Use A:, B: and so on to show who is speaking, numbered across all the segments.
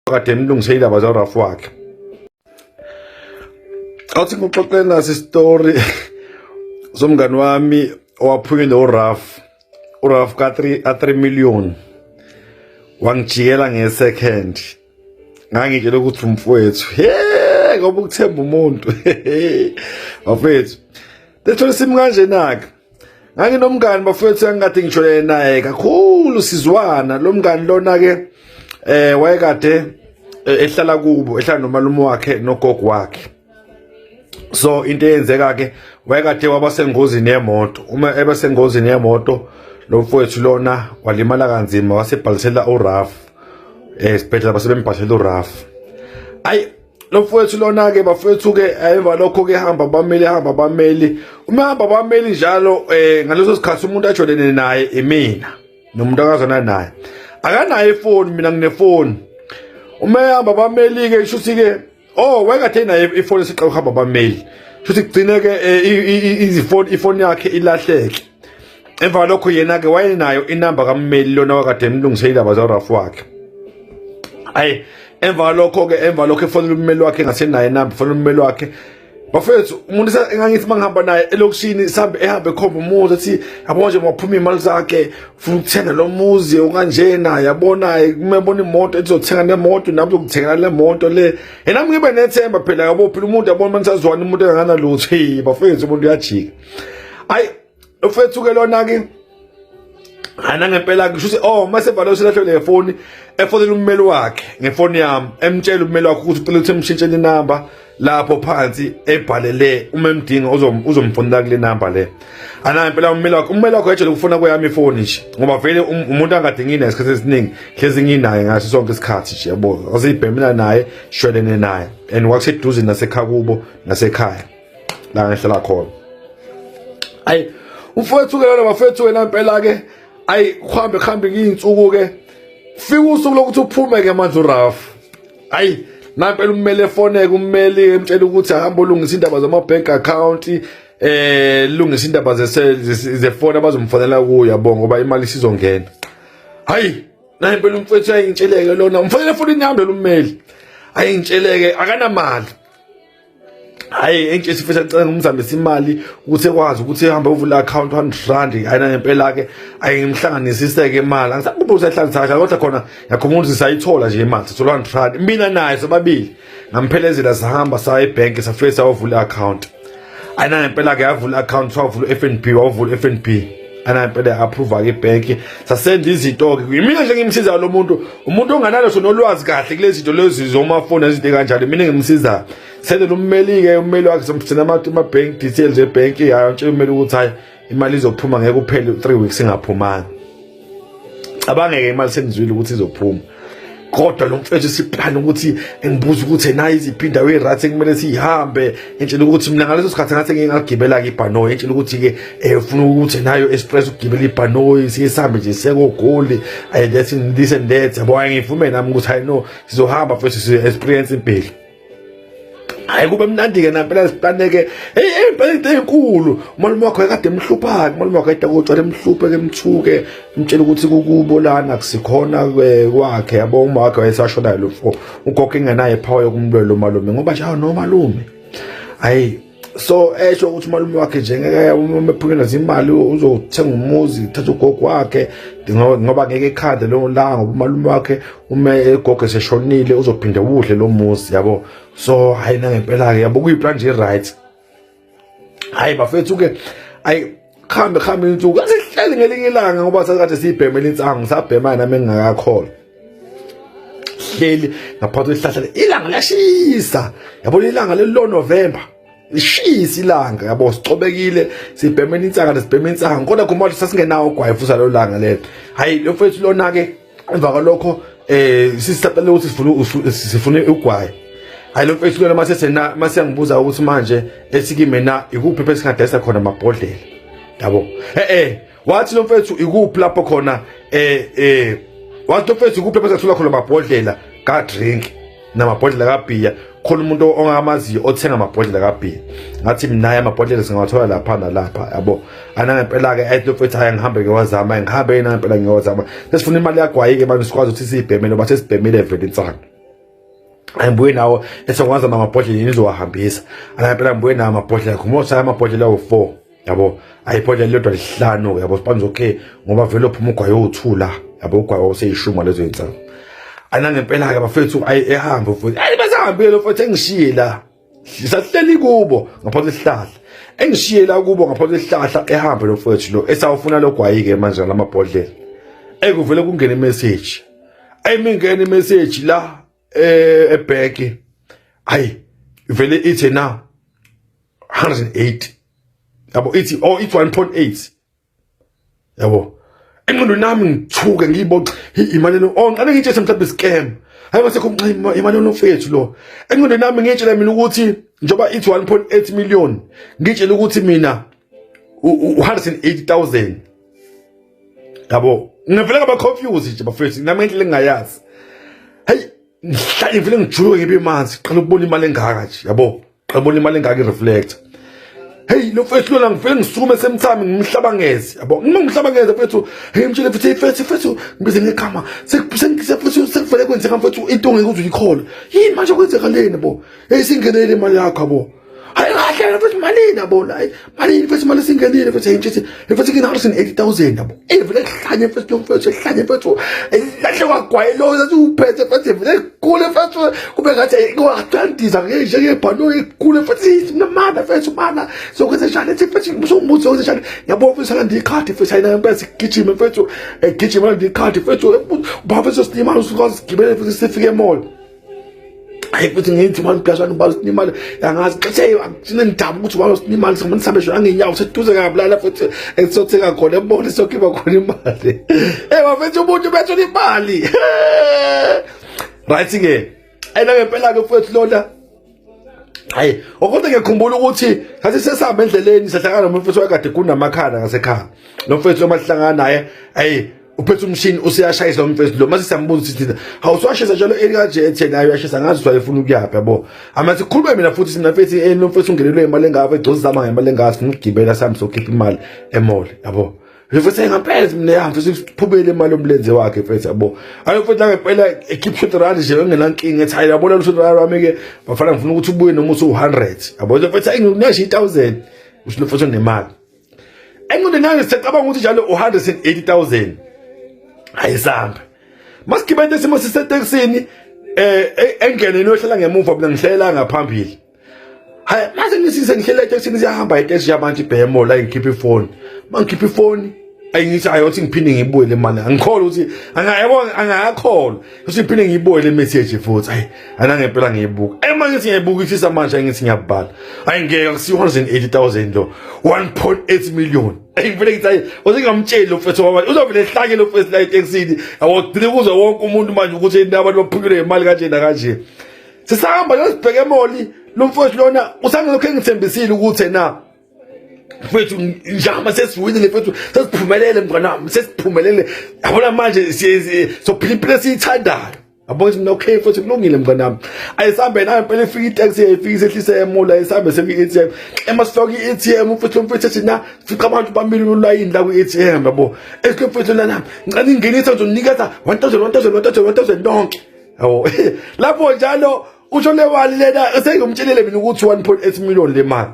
A: kade nilungise indaba zarafu wakhe awuthi ngikuxoxele nasi isitori somngani wami owaphunyile uraf uraf ka-3 million wangijikela nge-second ngangitshela ukuthi umfowethu he ngoba ukuthemba umuntu bafethu lethola isimo kanjenake nganginomngani bafowethu engikade ngijolene naye kakhulu sizwana lo mngani lona-ke um eh, wayekade eh, ehlala kubo ehlala nomalume wakhe nogogo wakhe so into eyenzeka-ke wayekade waba sengozini yemoto uma ebe sengozini yemoto lo mfowethu lona walimala kanzima wasebhalisela urafu um eh, esibhedlela basebembhalisela urafu ayi lo mfowethu lona-ke bafowethu-ke eh, emva lokho-ke hamba bameli hamba bameli uma hamba bameli njalo um eh, ngaleso sikhathi umuntu ajolene naye imina nomuntu akazona naye akanayo ifoni mina nginefoni uma ehamba bameli-ke isho ukuthi-ke o oh, wayekade naye ifoni esiqala ukuhamba bameli sho ukuthi kugcine-ke um eh, ifoni yakhe ilahleke emva kwalokho yena-ke wayenayo inamba kammeli lona wakade emlungise indaba zarafu wakhe ayi emva kwalokho-ke emva kwalokho efonela ummeli wakhe engasenayo inamba efonela ummeli wakhe bafethu umuntu engangithi uma ngihamba naye elokishini sihambe ehambe ekhomba umuzi athi yabo manje maphuma iy'mali zakhe funa ukuthenga lo muzi okanjena yabona kumebona imoto ezizothenga nemoto nami zokuthengela le moto le yena ngibe nethemba phela yabo phela umuntu yabona uma nisazwana umuntu enganganalutho bafethu umuntu uyajika ayi Ufethu ke lona ke Hana ngempela ngisho ukuthi oh mase bhala usilahlwe le phone efonela ummeli wakhe ngefoni yami emtshela ummeli wakhe ukuthi ucela ukuthi emshintshele inamba lapho phansi ebhalele uma emdinga uzomfonela kule namba le ana impela ummeli wakho ummeli wakho ejele ukufona kweyami ifoni nje ngoba vele um, umuntu angadingi naye isikhathi esiningi hlezi nginaye ngaso sonke isikhathi nje yabo aseyibhemela naye shwelene naye and wakuseduze nasekhaya kubo nasekhaya la ngihlala khona ayi umfowethu ke lona bafethu wena impela ke ayi kuhambe kuhambe ngiyinsuku ke fika usuku lokuthi uphume ke manje uRaf ayi nampela ummeli efoneke ummeli emtshela ukuthi ahamba olungisa indaba zama bank account eh lungisa indaba zefoni abazomfonela kuyo yabo ngoba imali isizongena hayi naye impela umfethu ayintsheleke lona umfanele futhi inyambe lommeli ayintsheleke akanamali hayi enje sifisa nicela ngimzambisa imali ukuthi ekwazi ukuthi ehambe uvula account 100 rand ayina ngempela ke ayimhlanganisise ke imali angisakubuza usehlanganisa kahle kodwa khona yakhumulisa sayithola nje imali sithola 100 rand mina naye sobabili ngamphelezela sahamba saye bank safisa wavula account ayina ngempela ke yavula account wavula FNB wavula FNB anempela approve ke bank sasenza izinto ke mina nje ngimsiza lo muntu umuntu onganalo sona olwazi kahle kulezi zinto lezi zomafoni izinto kanjalo mina ngimsiza sele ummeli ke ummeli wakhe somthina ama ma bank details e bank yayo nje ummeli ukuthi hayi imali izophuma ngeke uphele 3 weeks ingaphumanga abangeke imali senizwile ukuthi izophuma kodwa lo mfethu siphana ukuthi engibuza ukuthi nayi iziphi indawo e-right ekumele siyihambe entshela ukuthi mina ngaleso sikhathi ngathi ngeke ngagibela-ke ibhanoyi entshela ukuthi-ke um funa ukuthi nayo express ukugibela ibhanoyi siye sihambe nje sekogoli um that's this and that yabo ayi ngivume nami ukuthi hayi no sizohamba futhi sizo-experience impilo hayi kube mnandi-ke nampela zipaneke ey'mpela into ey'nkulu umalume wakho ekade emhlupha-ke umalume wakho ayida kotshwala emhluphe-ke emthuke mtshela ukuthi kukubo lana kusikhona eh, kwakhe yabo uma wakhe wayesashonayo lo fo ugogo engenayo iphawa yokumlwela umalume ngoba nje awu nomalume hhayi so esho ukuthi umalume wakhe njengeke uma ephunyelwa zimali uzothenga umuzi thatha ugogo wakhe ngoba ngeke ekhande leyo langa ngoba umalume wakhe uma egogo eseshonile uzophinde udle lo muzi yabo so hhayi nangempela-ke yabo kuyiplan nje right hhayi bafethu-ke ayi khambe khambe insuku asihleli ngelinye ilanga ngoba sasikade siyibhema elinsangu sabhema yena mengingakakholwa hleli ngaphansi kwesihlahla ilanga liyashisa yabona ilanga lelo November lishisa ilanga yabo sicobekile sibhema insanga nesibhema insanga kodwa khumalo sasingenawo ugwayi futhi lolanga lelo hayi lo mfethu lona ke emva kwalokho eh sisicela ukuthi sifuna sifuna ugwayi hayi lo mfethu lona mase sena mase yangibuza ukuthi manje esikime na ikuphi phela singadayisa khona amabhodlela yabo eh eh wathi lo mfethu ikuphi lapho khona eh eh wathi lo mfethu ikuphi phela singathola khona amabhodlela ka drink namabhodlela kabhiya khona umuntu ongamaziyo othenga amabhodlela kabhiya ngathi mnaye amabhodlela singawathola lapha nalapha yabo anangempela-ke ayitofethi hhayi ngihambe ngewazama ngihambe yena ngempela ngewazama sesifuna imali yagwayi-ke abantu sikwazi ukuthi siyibhemele bathe sibhemile vele insana angibuye nawo esengikwazi amabhodlela yini zowahambisa anangempela ngibuye nawo amabhodlela khumoshaye amabhodlela wo-four yabo ayibhodlela lodwa lihlanu yabo sibanza okay ngoba vele uphuma ugwayo uthu la yabo ugwayo useyishuma lezo insa ana ngempela ke bafethu ayi ehambe futhi ayi basahambile futhi engishiye la sisahleli kubo ngaphansi esihlahla engishiye la kubo ngaphansi esihlahla ehambe lo futhi lo esawufuna lo gwayi ke manje lamabhodlela ekuvele kungena imessage ayimingena imessage la eh ebheki ayi vele ithi na 180 yabo ithi oh it's 1.8 yabo enqondo nami ngithuke ngiyiboxa imali no oh ngiqale ngitshe mhlawumbe scam hayi bese kumnxima imali onofethu lo enqondo nami ngitshela mina ukuthi njoba ithi 1.8 million ngitshela ukuthi mina 180000 yabo ngivele ngaba confuse nje bafethu nami ngendlela engayazi hey ngihlale ngivele ngijuluke ngibe manzi qala ukubona imali engaka nje yabo qhabona imali engaka ireflect hey lo mfethu lona ngifike ngisukume semthami ngimhlabangeze yabo uma ngimhlabangeze mfethu hey mtshele futhi mfethu mfethu ngibize ngegama sengise futhi sekuvele kwenzeka mfethu into ngeke uze uyikhole yini manje kwenzeka leni bo hey singenele imali yakho yabo hayi kahle mfethu malini yabo la Manje imfethu imali singenile mfethu ayintshisi imfethu kina harsin 80000 yabo. Evele hlanye mfethu mfethu hlanye mfethu lahle kwagwaye lo zathi uphethe mfethu evele kule mfethu kube ngathi kwadandiza ke nje ke bhalo kule mfethu namana mfethu mana sokwenza njani ethi mfethu ngizombuza sokwenza njani yabo mfethu ngandi ikhadi mfethu ayina mfethu gijima mfethu gijima ngandi ikhadi mfethu baba mfethu sinimali usuka sigibele mfethu sifike mall. hayi futhi ngithi manje uphashana ubalo sinimali angazi xesha ngithina ngidaba ukuthi ubalo sinimali sikhona sihambe shona ngenyawo seduze kabulala futhi esizothenga khona ebona sokhipha khona imali eh bafethu umuntu bethu imali right ke ayina ngempela ke futhi lona hayi okonke ngiyakhumbula ukuthi sathi sesihamba endleleni sahlangana nomfethu wakade kunamakhanda ngasekhaya lo mfethu lomahlangana naye hayi uphethe umshini useyashayisa umfethu lo mase siyambuza ukuthi thina awuswashisa njalo elikanje etheni ayo yashisa ngazi ukuthi wayefuna ukuyaphi yabo ama sikhulume mina futhi sina mfethu eh, lo mfethu ungenelwe imali engaka egcozi zama ngemali engaka sifuna ukugibela sihambe sokhipha imali emall yabo Ngifese ngaphezi mina yahambe futhi siphubele imali omlenze wakhe mfethu yabo. Ayo mfethu ngempela ekhipha shot rand nje bengenankinga ethi hayi yabona lo shot rand wami ke bafana ngifuna ukuthi ubuye noma usu 100. Yabo mfethu ayinginasho 1000 usho lo mfethu nemali. Enqondo nami sicabanga ukuthi njalo u 180000. Ayisambe. Masigibele isimo siseteksini eh, eh engene nohlala ngemuva mina ngihlela ngaphambili. hayi mase nisize ngihlele etekisini siyahamba etekisi yabantu ibhemo la ngikhipha ifoni uma ngikhipha ifoni ayingithi ayothi ngiphinde ngibuyele imali angikholwa ukuthi angayebo angakholwa ukuthi ngiphinde ngibuyele imessage futhi ayi anangempela ngiyibuka ema ngithi ngiyibukisisa manje ngithi ngiyabhala ayi ngeke kusi 180000 lo 1.8 million ayi ngivele ngithi ayi uzingamtsheli lo mfethu wabani uzovele ehlanye lo mfethu la eTexini awugcine kuze wonke umuntu manje ukuthi abantu baphukile ngemali kanje na kanje sisahamba yosibheke emoli lo mfowethu lona usangelokhu engithembisile ukuthi na mfethu njama sesiwinile mfethu sesiphumelele mnganami sesiphumelele yabona manje sophila impilo esiyithandayo yabona mina okay mfethu kulungile mnganami ayisambe nayo impela ifika itaxi yayifika isehlisa emola ayisambe sefika i-atm ema sifaka i-atm mfethu mfethu ethi na fica abantu bamile ulayini la kwi-atm yabo esikho mfethu lana ngicela ingenisa ngizonikeza 1000 1000 1000 1000 lonke Oh, lapho njalo usho le mali lena sengimtshelile mina ukuthi 1.8 million le mali.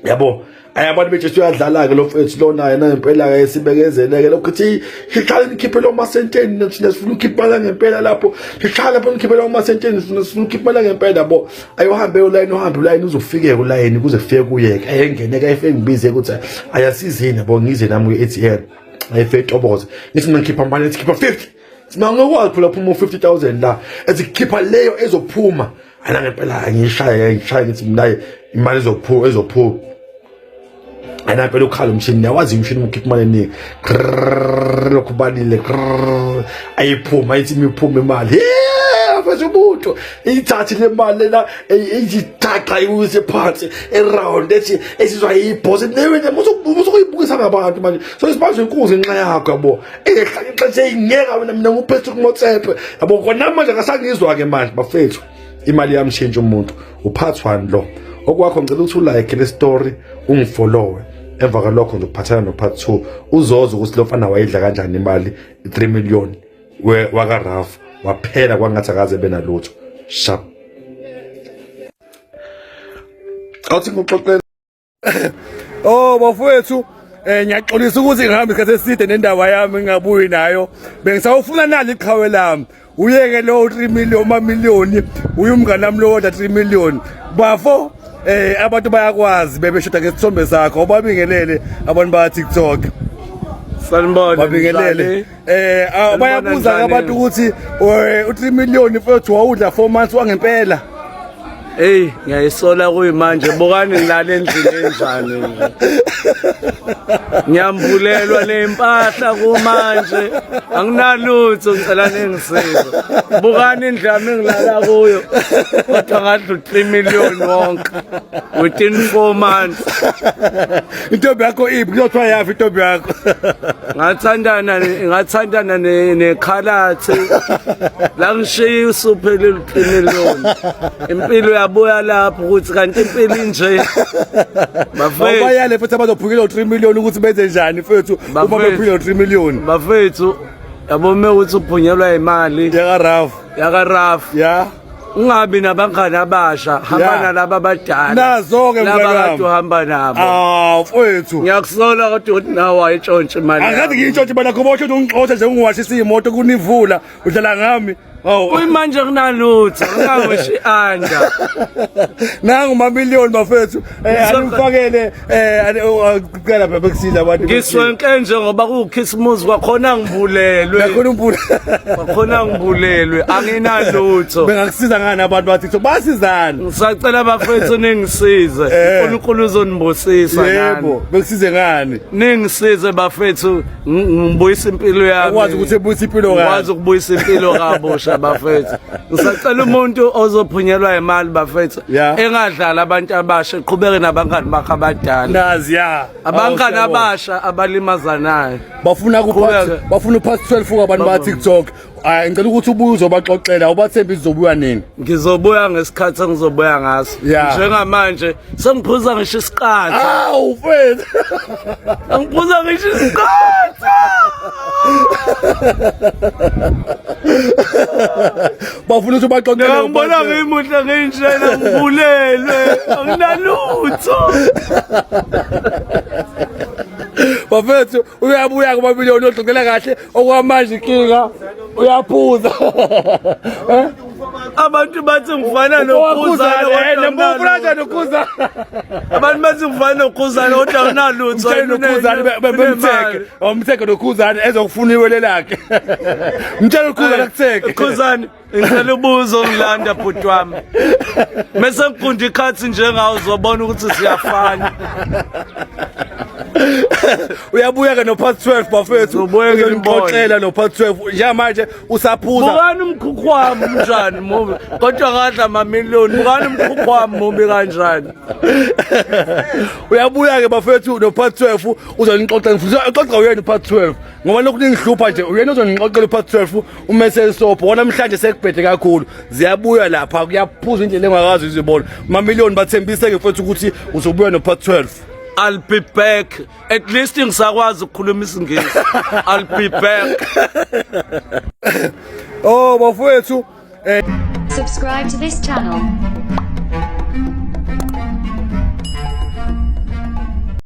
A: Yabo, ayi abantu bejesu uyadlala ke lo mfethu lona yena ngempela ke sibekezeleke lokho ukuthi sihlale nikhiphe lo masenteni thina sifuna ukhipha la ngempela lapho sihlale lapho nikhiphe lo masenteni sifuna sifuna ukhipha la ngempela bo ayohambe ulayini uhambe ulayini uzofike ulayini kuze kufike kuye ke ayengene ke efike ngibize ukuthi ayasizini bo ngize nami ku-ATM ayefetoboze ngithi mina ngikhipha manje ngikhipha 50 Simanga ukwazi phula phuma 50000 la ezikhipha leyo ezophuma ana ngempela angishaya ngishaya ngithi mina imali ezophuma ezophuma ana phela ukhala umshini yawazi umshini ukhipha imali eningi lokhu balile ayiphuma ithi imiphuma imali mfethu umuntu ithathi le mali lena iyithaqa iwise phansi eround ethi esizwa iyibhosi newe nje musukuyibuka kukhulisa ngabantu manje so isibanje inkunzi nxa yakho yabo ehlale ixesha eyingeka wena mina nguphethe kumotsepe yabo kona manje akasangizwa ke manje bafethu imali yamshintsha umuntu uphathwani lo okwakho ngicela ukuthi ulike le story ungifollowe emva kwalokho ngizophathana no part 2 uzoza ukuthi lo mfana wayidla kanjani imali 3 million waka Raf waphela kwangathi akaze benalutho shap awuthi ngixoxela
B: oh bafowethu eh ngiyaxolisa ukuthi ngihamba isikhathi eside nendaba yami ngingabuyi nayo bengisawufuna nali iqhawe lami uyeke lo 3 million uma million uyumngane nami lo 3 million bafo eh abantu bayakwazi bebeshoda ngesithombe sakho obabingelele abantu ba TikTok
C: sanibona babingelele
B: Eh ah, bayabuza ke abantu ukuthi eh, u3 million mfethu wawudla 4 months wangempela. Hey
C: ngiyayisola kuyimanje bukani ngilala endlini enjani nje. Ngiyambulelwa lempahla kumanje anginalutho ngicela ningisize. Bukani indlu yami ngilala kuyo kodwa ngadla u3 million wonke within 4 months.
B: intombi yakho iphi kuyothiwa yafi intombi yakho ngathandana
C: ngathandana nekhalathi la ngishiya usuphele luqine lona impilo yabuya lapho ukuthi kanti impilo inje bafethu bayale futhi
B: abazophukile 3 million ukuthi benze njani fethu uma bephukile 3 million bafethu
C: yabo me ukuthi uphunyelwa imali yaka raf yaka raf yeah
B: ungabi
C: nabangani abasha hamba Yeah. nalaba abadala Nazo-ke laba mntwana
B: wami. kade uhamba nabo
C: Ah, mfowethu.
B: ngiyakusola kodwa
C: ukuthi nawe wayitshontsha imali Angikathi yakho. ngiyintshontshe bana khona
B: ukuthi ungixoshe nje ungiwashisa imoto kunivula udlala ngami. Hawu. kuyimanje
C: kunalutho ungangoshi anda
B: Nangu mamillion bafethu. Eh anifakele eh ucela baba kusiza abantu. Ngiswenke njengoba
C: kukhisimuzi kwakhona ngibulelwe. Ngakhona umbula. Kwakhona ngibulelwe anginalutho. Bengakusiza ngani
B: abantu bathi so basizana. Ngisacela bafethu
C: ningisize. Eh. uNkulunkulu uzonibusisa nani. Yebo, bekusize
B: ngani? Ningisize
C: bafethu ngibuyisa impilo yami. Ukwazi ukuthi ebuyisa impilo
B: kabi. Ukwazi ukubuyisa impilo
C: kabusha bafethu. Ngisacela umuntu ozophunyelwa imali bafethu. Yeah. engadlali abantu abasha eqhubeke nabangani bakhe abadala Nazi ya.
B: abangani Awu, siyabo.
C: abasha abalimazanayo bafuna ku Qhubeka.
B: part- bafuna u past 12 kwabantu ba TikTok ay ngicela ukuthi ubuye uzobaxoxela ubathembe izobuya nini ngizobuya ngesikhathi
C: engizobuya ngaso Yeah. njengamanje sengiphuza ngisho isiqatha awu mfethu angiphuza ngisho isiqatha
B: bafuna ukuthi ubaxoxele ngibona ngimuhle
C: nginjena ngibulelwe anginalutho
B: bafethu uyabuya kumamiliyoni ogxoxela kahle okwamanje inkinga uyaphuza eh?
C: abantu bathi ngifana nokhuzanenokuzanaabantu bathi ngifana nokhuzane kodwa unalutho
B: bemtheke Omtheke nokhuzane ezokufuna iwele lakhe. Mtshela ukhuzane kutheke. Khuzane ngicela
C: ubuzo ongilanda bhuti wami. Mese ngigunda ikhathi njengawo uzobona ukuthi siyafana.
B: uyabuya ke no part 12 bafethu uzonixoxela no part 12 njengamanje usaphuza bukani umkhukhu
C: wami unjani mubi kodwa ngadla mamillion bukani umkhukhu wami mubi kanjani
B: uyabuya ke bafethu no part 12 uzonixoxa ngifuna uxoxa uyena upart 12 ngoba lokhu ningihlupha nje uyena uzonixoxela upart 12 umesel sopo wona namhlanje sekubhede kakhulu ziyabuya lapha kuyaphuza indlela engakazi izibona mamillion bathembise ke futhi ukuthi uzobuya no part 12 I'll be
C: back. At least ngisakwazi ukukhuluma isingisi. I'll be back.
B: oh,
D: bafowethu. Eh.
B: Subscribe to
D: this channel.